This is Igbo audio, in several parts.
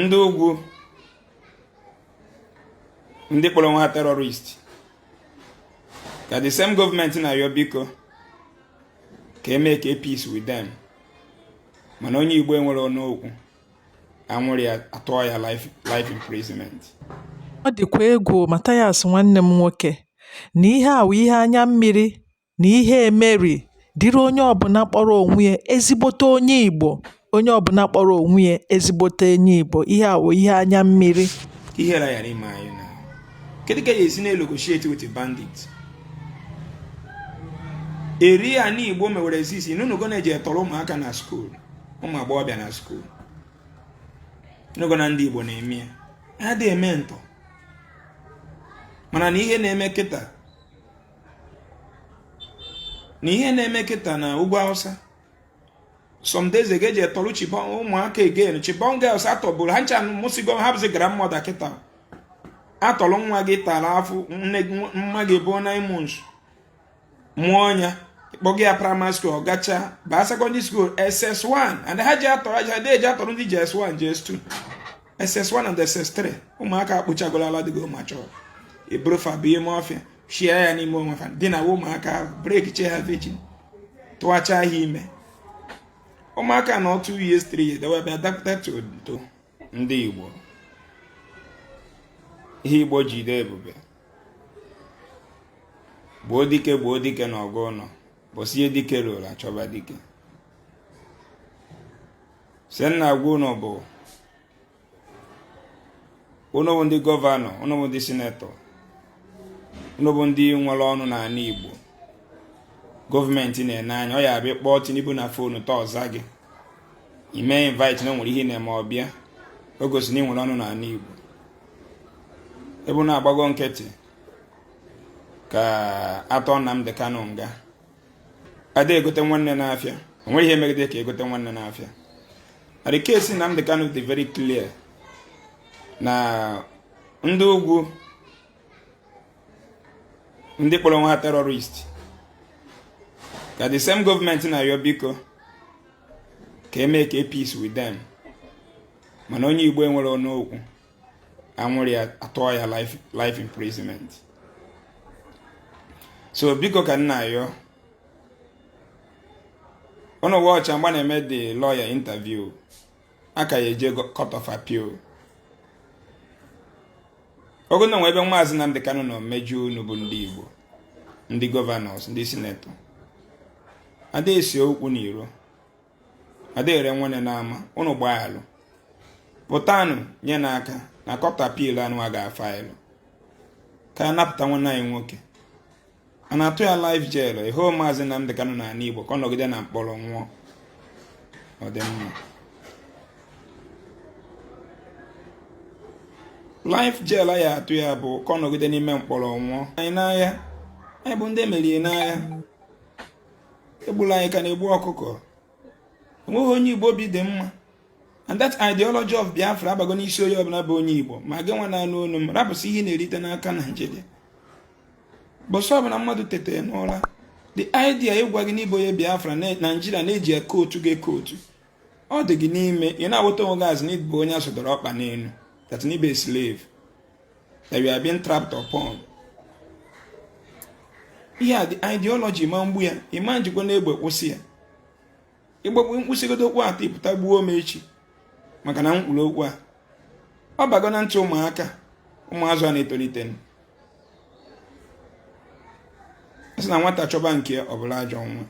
ndị ugwu ndị kpọrọ onwe ha terọrist ka the same gọọmenti na-ayọ biko ka e make peace with them mana onye igbo enwerọ ọnụ okwu a nwụrụ ya a tụọ ya life imprisonment ọ dịkwa egwu Mathias nwanne m nwoke na ihe a wụ ihe anya mmiri na ihe emeri dịrị onye ọbụla kpọrọ onwe ya ezigbote onye Igbo onye ọbụla kpọrọ onwe ya ezigbote onye Igbo ihe a wụ ihe anya mmiri ihe ra ya n'ime anyị na kedu ka a ya-esi na-enegotiate with bandit eri ya n'Igbo mewere exist ị nụgo na e jee tọrọ ụmụaka na skuul ụmụ agbọghọbịa na skuul nụgo na ndị Igbo na-eme ya ha adị eme ntọ mana na ihe na-eme kịta na ihe na-eme kịta na ugwu awụsa some days ago e jee tọrọ Chibok ụmụaka again Chibok girls a tọburu ha ncha mụsigo ha bụzi grandmother kịta a tọrọ nwa gị tara afụ nne nwa gị bu nine months mụọ ya kpọga ya praịmarị skuul ọ gacha baa sekọndịrị skuul ss1 and ha ji atọrọ aja de eji atọrọ ndị js1 js2 ss1 and ss3 ụmụaka akpụchagoro ala dịgo matured e buru fa baa ime ọfịa share ya n'ime onwe ha dinaa ụmụaka ahụ breakichaa ha virgin tụwacha ha ime ụmụaka na two years three years they will be adapted to ndị igbo ihe igbo jide ebube gbuo dike gbuo dike n'ọgụ ụlọ ụbọsị dike ruru a chọba dike so m na-agwa unu bụ unu bụ ndị gọvanọ unu bụ ndị sinetọ unu bụ ndị nwere ọnụ n'ala Igbo gọọmenti na-ene anya ọ ya bụ ị kpọọ Tinubu na fonu taa ọ zaa gị i mee invite na o nwere ihe ị na-eme ọ bịa o gosi na ị nwere ọnụ n'ala Igbo ebe na-agbago nkịtị ka a tụọ Nnamdi Kanu nga a da egote nwanne n'afịa o nwerọ ihe e megide ka e gote nwanne n'afịa na the case Nnamdi Kanu dị very clear na ndị ugwu ndị kpọrọ onwe ha terrorist ka the same gọọmenti na-ayọ biko ka e make peace with them mana onye Igbo enwerọ ọnụ okwu a nwụrụ ya a tụọ ya life imprisonment so biko ka m na-ayọ unu watch mgbe a na-eme the lawyer interview a ka ya-eje court of appeal ọ bụrụ na o nwe ebe maazị Nnamdi Kanu nọ mejọọ unu bụ ndị Igbo ndị gọvanọs ndị sinetọ a da ese okwu n'iro ada ere nwanne n'ama ụnụ gbaa alụ pụtanụ nyenụ aka na court appeal anụ a ga-afaịlụ ka a napụta nwanne anyị nwoke a na-atụ ya life jail ịhụ maazị Nnamdi Kanu na ala Igbo ka ọ nọgide na mkpọrọ nwụọ ọ dị mma life jail ya atụ ya bụ ka ọ nọgide n'ime mkpọrọ nwụọ anyị n'agha anyị bụ ndị e merie n'agha egbula anyị ka a na-egbu ọkụkọ enweghị onye igbo obi dị mma and that ideology of biafra abago n'isi onye ọbụla bụ onye igbo ma gị nwa na-anụ onu m rapụsị ihe ị na-erite n'aka naijiria ụbọsị ọbụla mmadụ tete n'ụra the idea ịgwa gị na ị bụ onye biafra na naijiria na-eji eke otu gị eke otu ọ dị gị n'ime ị na-awụta onwe gị as na ị bụ onye a zọdoro ọkpa n'elu that na ị bụ slave that you are being trapped upon ihe a the ideology ma mgbu ya ị ma ejikwanụ egbe kwụsị ya ịgbagbu m kwusịgodo okwu a taa ị pụta gbuo m echi maka na mkpụrụ okwu a ọ bago na ntị ụmụaka ụmụazụ a na-etolite sị na nwata chọba nke ya ọ bụla ajọ nwa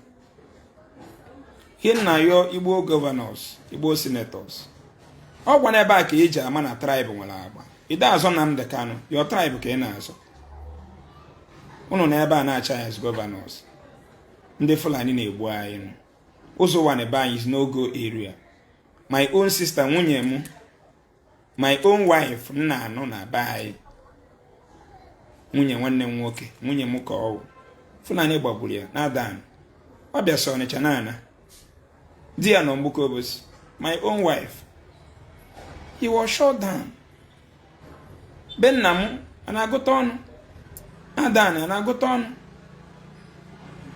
Ihe m na-ayọ Igbo governors Igbo senators ọ kwa n'ebe a ka e ji ama na tribe nwere agba ị da azọ Nnamdi Kanu your tribe ka ị na-azọ ụnụ na ebe a na-achị as governors ndị Fulani na-egbu anyị Ụzọ Ụwani be anyị is no go area my own sister nwunye m my own wife m na-anụ na be anyị nwunye nwanne m nwoke nwunye m ka ọ wụ Fulani gbagburu ya na Adani ọ bịasị Ọnịcha na-ana di ya nọ Mgbuka Obosi my own wife he was shot down be nna m a na-agụta ọnụ Adani a na-agụta ọnụ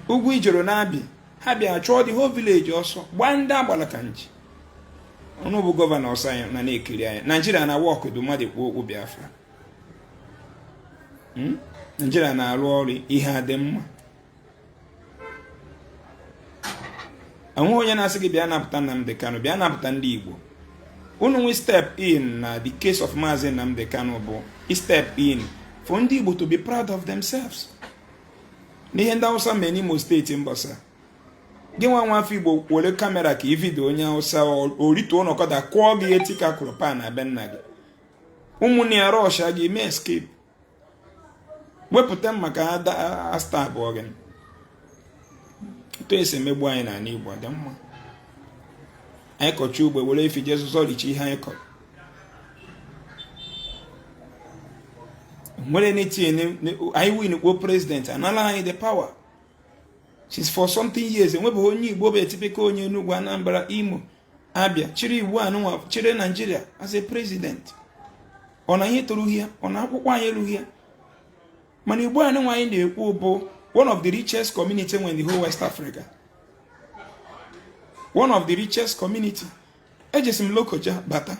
Ugwuijoro na Abbi ha bịa chụọ the whole village ọsọ gbaa ndị agbala ka nji unu bụ governors anyị nọ na-ekiri anyị naijiria na-awork ọ dị mmadụ kwuo okwu biafra hmm? naijiria na-arụ ọrụ ihe adị mma enweghị onye na-asị gị bịa napụta Nnamdi Kanu bịa napụta ndị Igbo unu nwe step in na the case of Maazị Nnamdi Kanu bụ step in for ndị Igbo to be proud of themselves n'ihe ndị awụsa mee n'imo steeti mbọsị a gị nwa nwa afọ igbo were kamera ka ị video onye awụsa o rituo n'ọkada kụọ gị eti ka a kụrụ pan na be nna gị ụmụnne ya rọsha gị mee escape wepụta mma ka a stabụọ gị etu e si emegbu anyị n'ala igbo dị mma anyị kọcha ugbo were efi jee zụzọ richa ihe anyị kọrọ nwere nothing anyị win kpoo president anala anyị the power since forty something years enwebeghị onye igbo bụ a typical onye Enugu Anambra Imo Abia chịrị igbo anụnwa chịrị Nigeria as a president ọ na anyị etorughị ya ọ na akwụkwọ anyị erughị ya mana igbo anụnwa anyị na-ekwu bụ one of the richest community in the whole west africa one of the richest community ejesi m lokoja bata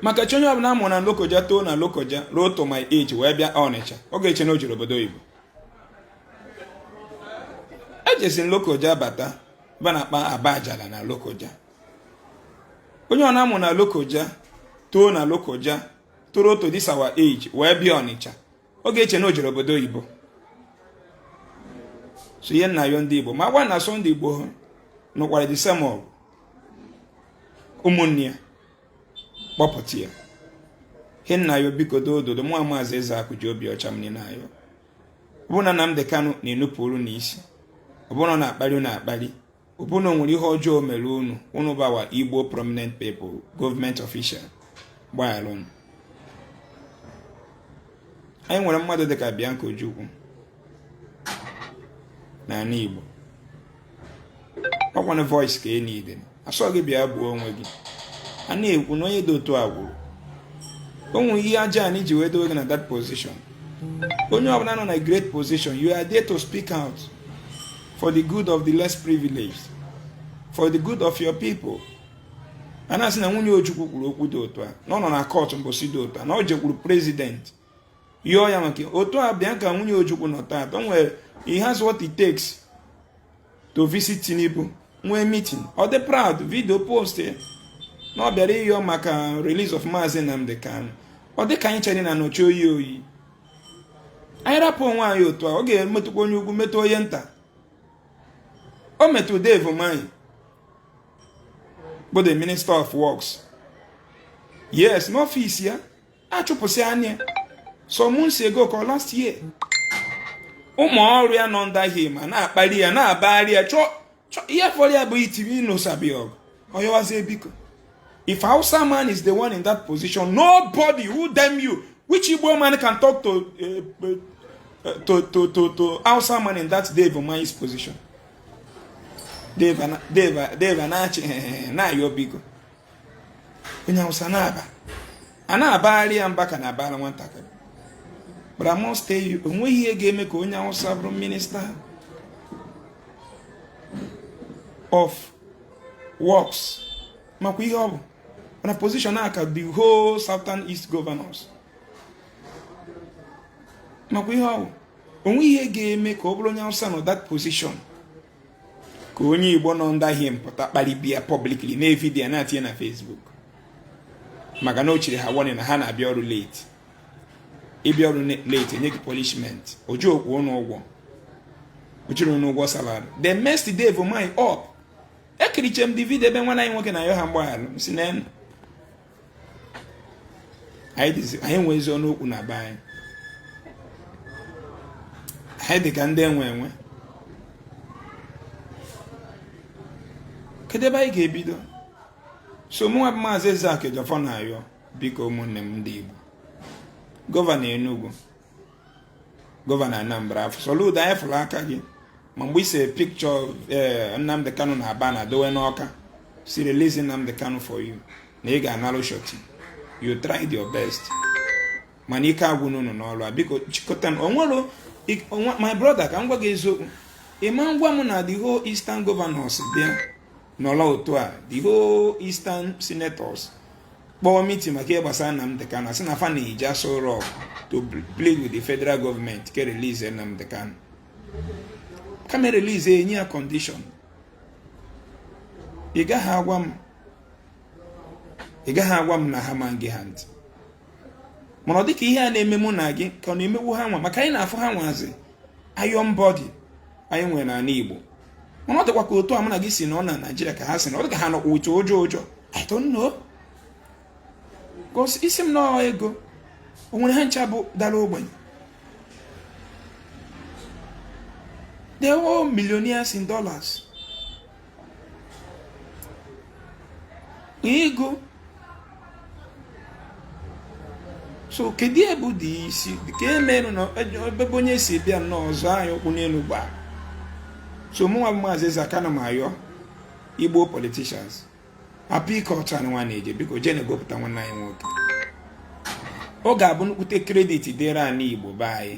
maka chi onye ọbụla a mụrụ na lokoja too na lokoja ruo to my age wee bịa ọnịcha ọ ga-eche na o jere obodo oyibo ejesi m lokoja bata ebe a na-akpọ Obajana na lokoja onye ọbụna a mụ na lokoja too na lokoja toro to this our age wee bịa ọnịcha ọ ga-eche na o jere obodo oyibo so ihe m na-ayọ ndị igbo ma governors ndị igbo ha nụkwara the same ọgụ ụmụnne ya kpọpụta ya ihe m na-ayọ biko doo doo doo mụ maazị Ezeakụ ji obi ọcha m niile ayọ ọ bụrụ na Nnamdi Kanu na-enupụrụ unu isi ọ bụrụ na ọ na-akparị unu akparị ọ bụ na o nwere ihe ọjọọ o mere unu unu bụ our igbo prominent people government official gbagharanụ anyị nwere mmadụ dịka Bianca Ojukwu n'ala igbo ọkwanụ voice ka enyi dị asị gị bịa gbuo onwe gị a na-ekwu na onye dị otu a kwuru o nwere ihe aja anyị ji wee dowe gị na that position onye ọbụla nọ na great position you are there to speak out for the good of the less privileged for the good of your people a na-asị na nwunye Ojukwu kwuru okwu dị otu a na ọ nọ na court mbọsị dị otu a na ọ jekwuru president yọọ ya maka otu a bịa ka nwunye Ojukwu nọ taata o nwere he has what it takes to visit Tinubu nwee meeting ọ dị proud video post na ọ bịara ịyọ maka release of Maazị Nnamdi Kanu ọ dị ka anyị chere na nọchi oyi oyi anyị rapụ onwe anyị otu a ọ ga-emetụkwa onye ukwu metụ onye nta o metụ Dave Umahi bụ the minister of works yes n'ọfịs ya achụpụsị anya some months ago ka last year ụmụ ọrụ ya nọ under him na-akparị ya na-abagharị ya chọọ ihe fọrọ ya bụ itiri inosabi ọgụ ọ yọwazie biko if hausa man is the one in that position nobody who damn you which igbo man can talk to eh, eh, eh, to to to to hausa man in that Dave Umahi's position dave dave dave na-achị na-ayọ biko onye awụsa na-aba a na-abagharị ya mba ka na-abara nwatakịrị but I must tell you onweghị ihe ga-eme ka onye awụsa bụrụ minister of works makwa ihe ọ bụ na position a ka the whole southern east governors makwa ihe ọ bụ onweghị ihe ga-eme ka ọ bụrụ onye awụsa nọ that position ka onye igbo nọ under him pụta kparịba ya publicly na video na-atinye na Facebook maka na o chiri ha warning na ha na-abịa ọrụ late ịbịa ọrụ late enye gị punishment oji okwu ụnụ ụgwọ ojiri ụnụ ụgwọ salary they messed Dave Umahi up ekiriche m the video ebe nwanne anyị nwoke na-ayọ ha mgbaghalụ si na anyị enwezi ọnụ okwu na be anyị anyị dị ka ndị enwe enwe kedu ebe anyị ga-ebido so mụnwa bụ maazị Ezeaku Ejiofor na-ayọ biko ụmụnne m ndị Igbo gọvanọ Enugu gọvanọ Anambra eh Soludo anyị fụrụ aka gị ma mgbe ise picture eh, Nnamdi Kanu na banner dowe n'ọka si release Nnamdi Kanu for you na ị ga-analụ surety you tried your best mana ike agwụna ụnụ n'ọrụ a biko chịkọtanụ onwe my brother ka m gwa gị eziokwu ịma ngwa m na the whole eastern governors bịa nọrọ otu a the whole eastern senators kpọọ meeting maka ihe gbasara Nnamdi Kanu sị na fa na-eje Aso Rock to plead with the federal government ka e release Nnamdi Kanu kama e release enye ya condition ị gaghị agwa m na ha ma nge ha ntị mana ọ dịka ihe a na-eme mụ na gị ka ọ na-emewu ha nwa maka anyị na-afụ ha nwazi iron body anyị nwere n'ala Igbo mana ọ dịkwa ka otu a mụ na gị si nọ na Nigeria ka ha si nọ ọ dị ka ha nọkwa ụjọ ụjọ ụjọ I don't know because ị sị m na ọ ego o nwere ha ncha bụ dara ogbenye they are all millionaires in dollars ego so kedu ihe bụ dị isi ka emerụ na ebe onye si bịa na-azọ anyị ụkwụ n'elu gbaa so mụnwa bụ maazị Ezeaku na m ayọ igbo politicians hapụ ike ọcha ụnụ nwa na-eje biko jeenụ gopụta nwanne anyị nwoke ọ ga-abụ nnukwute credit dịrị anyị igbo be anyị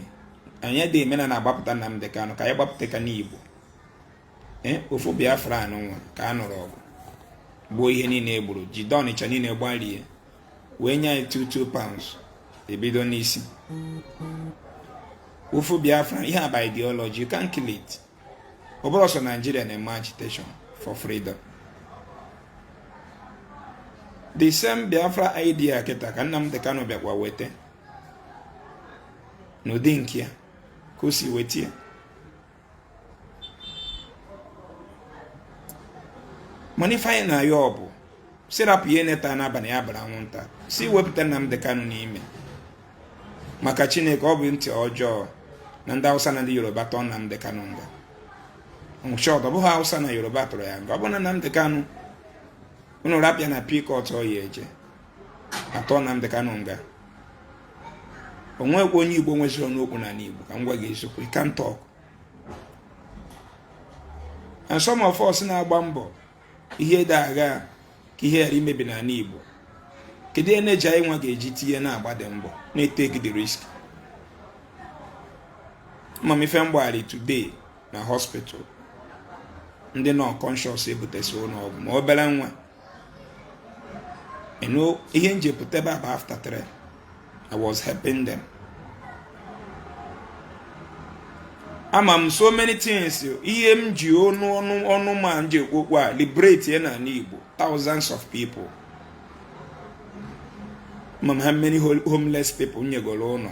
anyị dị emena na-agbapụta Nnamdi Kanu ka anyị gbapụta ka n'igbo Eh, ofu Biafra anụnwa ka a nụrụ ọgụ gbuo ihe niile e gburu jide Ọnịcha niile gbarie wee nye anyị 22 pounds e bido n'isi ofu Biafra ihe a bụ ideology you can't kill it ọ bụrọ sọ Naijiria na-eme agitation for freedom the same Biafra idea kịta ka Nnamdi Kanu bịakwa wete n'ụdị nke ya ka o si weta ya mana ife anyị na-ayọ ọ bụ sị rapụ ihe na-ata n'abalị ya bụrụ anwụnta sị wepụta Nnamdi Kanu n'ime maka Chineke ọ bụ ntị ọjọọ na ndị Hausa na ndị Yoruba tụọ Nnamdi Kanu nga in short ọ bụghị Hausa na Yoruba tụrụ ya nga ọ bụ na Nnamdi Kanu unu rapụ ya na appeal court ọ ya e ji atụ Nnamdi Kanu nga o nwekwa onye Igbo nweziri ọnụ okwu n'ala Igbo ka m gwa gị eziokwu you can't talk and some of us na-agba mbọ ihe dị agha ka ihe ghara imebi n'ala Igbo kedu energy anyị nwa ga-eji tinye na-agbadị mbọ na-etake the risk ama m ife m gbagharị today na hospital ndị nọ unconscious e butesi ụlọ ọgwụ ma obere nwa you know ihe m ji pụta ebe a bụ after three I was helping them ama m so many things ihe m ji ọnụ ọnụ ọnụ m a m ji ekwu okwu a liberate ya n'ala Igbo thousands of people ama m how many homeless people m nyegoro ụlọ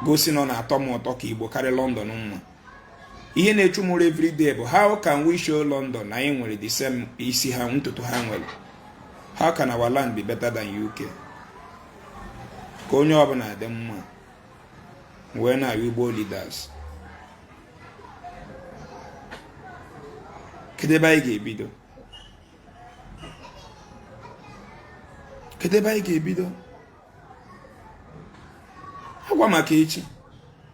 gosi na ọ na-atọ m ụtọ ka Igbo karịa London mma ihe na-echu m ụra everyday bụ how can we show London na anyị nwere the same isi ha ntutu ha nwere how can our land be better than UK ka onye ọbụla dị mma wee na-abịa Igbo leaders kedu ebe anyị ga-ebido kedu ebe anyị ga-ebido agwa maka echi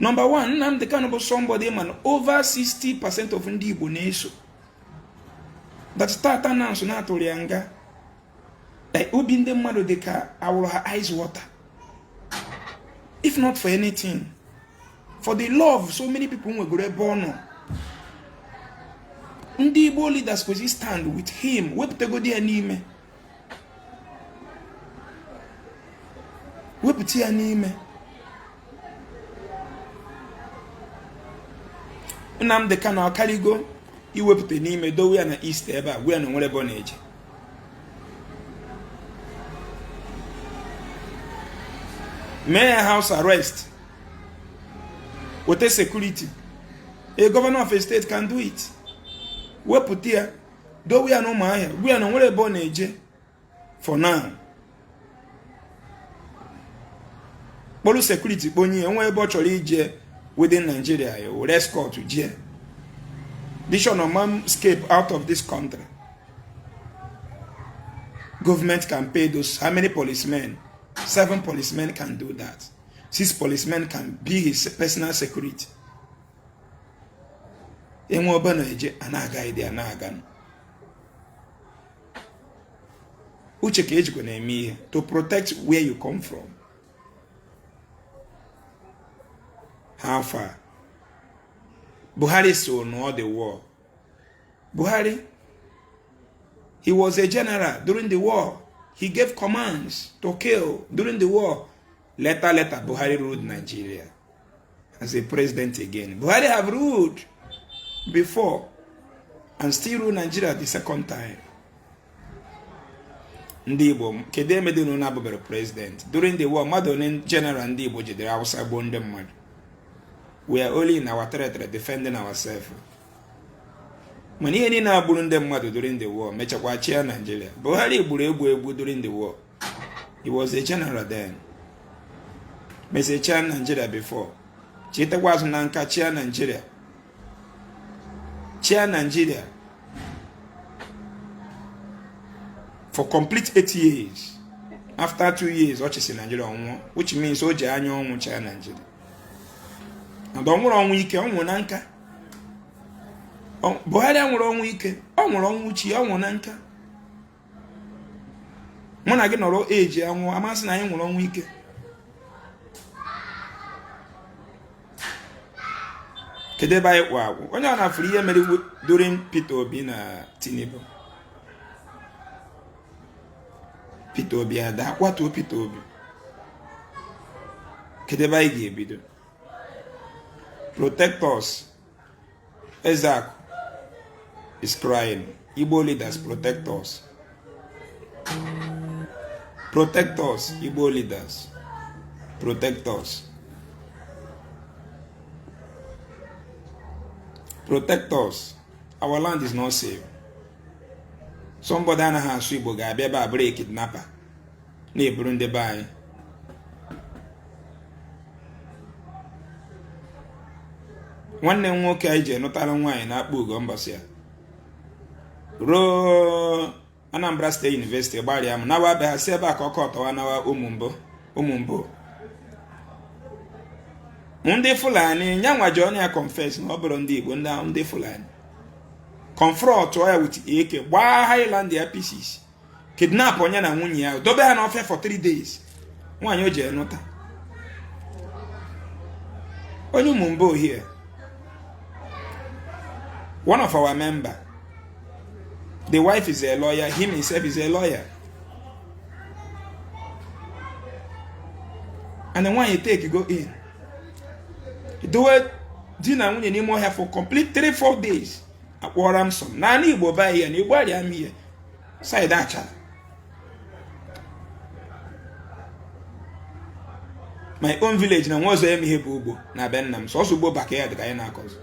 nọmba 1 Nnamdi Kanu bụ somebody m ma na over 60 percent of ndị Igbo na-eso but tata na nso na a tụrụ ya nga eh, obi ndị mmadụ dị ka a wụrụ ha ice water if not for anything for the love so many people nwegoro ebe ọ nọ ndị Igbo leaders kwesịrị stand with him wepụtagodi ya n'ime wepụta ya n'ime Nnamdị Kanu akarịgo iwepụta n'ime dowe ya na East ebe a gwa ya na o nwerọ ebe ọ na-eje mee ya house arrest weta security a governor of a state can do it wepụta ya dowe ya na Ụmụahịa gwa ya na o nwerọ ebe ọ na-eje for now kpọrọ security kpọnye ya nwee ebe ọ chọrọ ije within Nigeria ya were escort jee dishon ọ ma escape out of this country government can pay those how many policemen seven policemen can do that six policemen can be his personal security e nwee ebe a na-eje a na-aga ịdị a na-aga uche ka e jikwa na-eme ihe to protect where you come from how far Buhari so nụọ the war Buhari he was a general during the war he gave commands to kill during the war later later Buhari ruled Nigeria as a president again. Buhari have ruled before and still rule Nigeria the second time. ndị Igbo kedu ihe mere unu na-abụberọ president during the war mmadụ onye general ndị Igbo jidere Hausa gbuo ndị mmadụ we are only in our territory defending ourselves mana ihe niile a gburu ndị mmadụ during the war mechakwa chịa Nigeria Buhari gburu egbu egbu during the war he was a general then mesịa chịa Nigeria before chitakwa azụ na nka chịa Nigeria chịa Nigeria for complete eight years after two years ọ chịsị Nigeria ọ nwụọ which means o ji anya ọnwụ chịa Nigeria and ọ nwụrọ ọnwụ ike ọ nwụrụ na nka Buhari anwụrọ ọnwụ ike ọ nwụrụ ọnwụ chi ọ nwụrụ na nka mụ na gị nọrọ eji anwụ a ma sị na anyị nwụrụ ọnwụ ike kedu ebe anyị kwụ akwụ onye na-afụrọ ihe mere during Peter Obi na Tinubu Peter Obi adaa a kwatuo Peter Obi kedu ebe anyị ga-ebido protect us Ezeaku is crying. Igbo leaders protect us. Protect us, Igbo leaders. Protect us. Protect us. Our land is not safe. Somebody anaghị asụ Igbo ga-abịa ebe a bụrụ a kidnapper. na-eburu ndị be anyị nwanne m nwoke anyị jee nụtara nwaanyị n'Akpugo mbọsị ya ruo Anambra State University Igbariam nawa be ha si ebe a ka ọ kwọtuwa nawa Umumbo Umumbo ndị fulani nyanwa ji ọnụ ya confess na ọ bụrọ ndị igbo ndị fulani confront ya with AK gbaa Highlander pieces kidnapụọ nya na nwunye ya dobe ha n'ọfịa for three days nwaanyị o jee nụta onye Umumbo here one of our member the wife is a lawyer him himself is a lawyer and the nwaanyị etakego in dowe di na nwunye n'ime ọhịa for complete 3-4 days akwụọ ransom n'anị igbo ebe a n'Igbariam here side Achalla my own village enwerọzi ihe bụ ugbo na be nna m sọsọ ugbo backyard ka anyị na-akọzi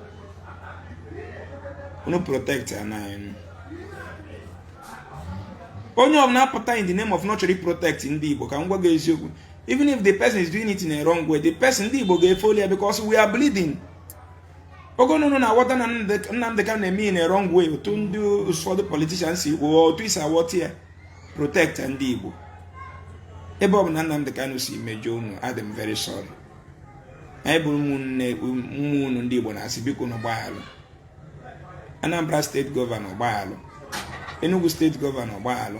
unu protectie nụ anyị onye ọbụla apụta in the name of na ọ chọrọ ị protect ndị Igbo ka m gwa gị eziokwu even if the person is doing it in a wrong way the person ndị Igbo ga-efollow ya because we are bleeding ọ bụ na unu na-aghọta na Nnamdị Kanu na-eme ihe in a wrong way otu ndị ụfọdụ politician si kwuo otu i si aghọta ya protect ndị Igbo ebe ọbụna Nnamdị Kanu si mejọọ unu adị m very sorry anyị bụrụ ụmụnne ụmụ unu ndị Igbo na-asị biko nụ gbaghalụ Anambra State Governor gbaghalụ Enugu State Governor gbaghalụ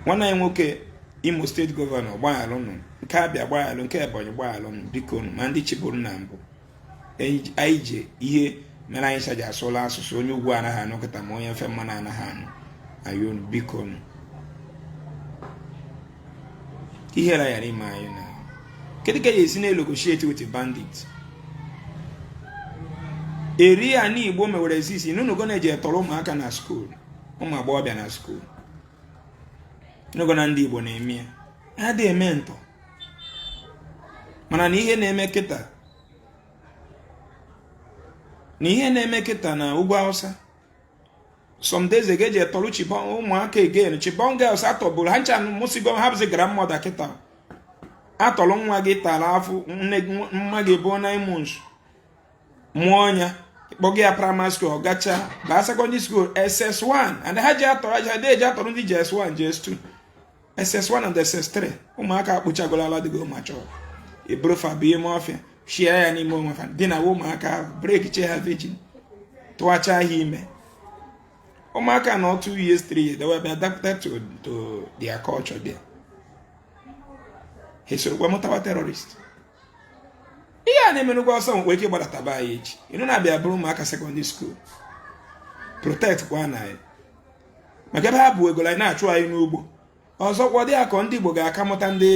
nwanne anyị nwoke Imo State Governor gbaghalụ nụ nke Abia gbaghalụ nke ebonyi gbaghalụ nụ biko nụ ma ndị chịbụrụ na mbụ anyị ji ihe mere anyị saji asụla asụsụ onye ugwu anaghị anụ kịta ma onye ofe mmanụ anaghị anụ ayọ nụ biko nụ ihere ghara ime anyị na kedu ka a ya-esi na-enegotiate with bandit eri ya n'igbo mewere exist ị nụnugo na e jee tọrọ ụmụaka na school ụmụ agbọghọbịa na school ị nụgo na ndị Igbo na-eme ya adị eme ntọọ mana na ihe na-eme kịta na ihe na-eme kịta na ugwu Hausa some days ago e jee tọrọ Chibok ụmụaka again Chibok girls atọburu ha ncha mụsigo ha bụzi grandmother kịta atọrọ nwa gị tara afụ nne mma gị bụ nine months mụọ ya kpọga ya praịmarị skuul ọ gacha baa sekọndịrị skuul ss1 and ha ji atọrọ aja ha eji atọrọ ndị js1 js2 ss1 and ss3 ụmụaka akpụchagoro ala dịgo mature eburu fa baa ime ọfịa share ya n'ime onwe fa dinaa ụmụaka ahụ breakicha ha virgin tụwacha ha ime ụmụaka anọọ 2 years 3 years they will be adapted to their culture there ha esorokwa mụtawa terrorist ihe a na-eme n'ugwu Hausa nwekwa ike gbadataba anyị echi ị nụ na abịa buru ụmụaka sekọndịrị skuul protect kwanụ anyị maka ebe ha bụ ego anyị na-achụ anyị n'ugbo ọzọkwa dị ka ọ ndị Igbo ga-aka mụta ndị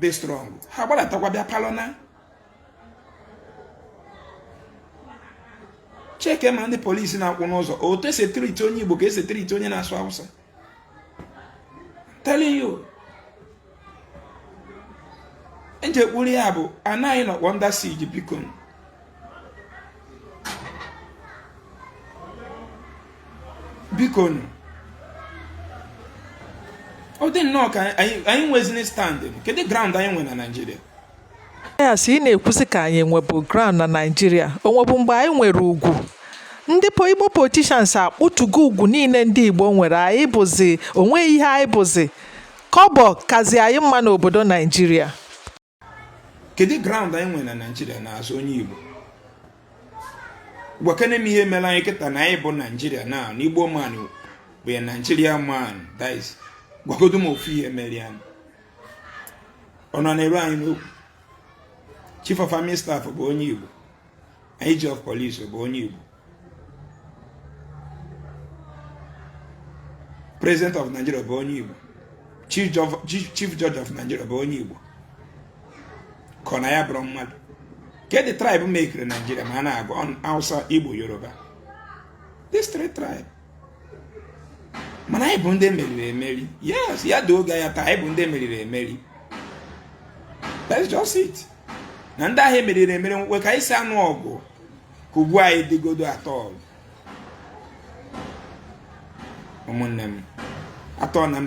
dị strong ha gbadatakwa bịa palụ na cheke ma ndị polisi na-akwụ n'ụzọ otu e si etreat onye Igbo ka e si etreat onye na-asụ Hausa telling you e ji ekwuru ya bụ anyị nọkwa under siege bikonụ ọ dị nnọọ ka anyị nwezini stand kedu ground anyị nwe na Naịjirịa yes ị na-ekwuzi ka anyị nwebu ground na naijiria o nwebu mgbe anyị nwere ugwu ndị igbo politicians akpụtugo ugwu niile ndị igbo nwere anyị bụzi o nweghị ihe anyị bụzi kọbọ kazi anyị mma n'obodo naijiria kedu ground anyị nwere na naijiria now as onye igbo gwakene m ihe mere anyị kịta na anyị bụ naijiria na an igbo man bụ a naijiria man that is gwagodo m ofu ihe mere ya ọ nọ na-eru anyị n'okwu chief of army staff bụ onye Igbo IG of police bụ onye Igbo president of Nigeria bụ onye Igbo chief judge of Nigeria bụ onye Igbo ka ọ na anyị abụrọ mmadụ kedụ tribe mekere Nigeria ma a na-agụ Hausa Igbo Yoruba this three tribe mana anyị bụ ndị e meriri emeri yes ya dị oge ya taa anyị bụ ndị e meriri emeri that's just it na ndị ahụ e meriri emeri nwekwe ka anyị si anụ ọgụ ka ugbu anyị dịgodo atọ ọgụ ụmụnne m atọ na mba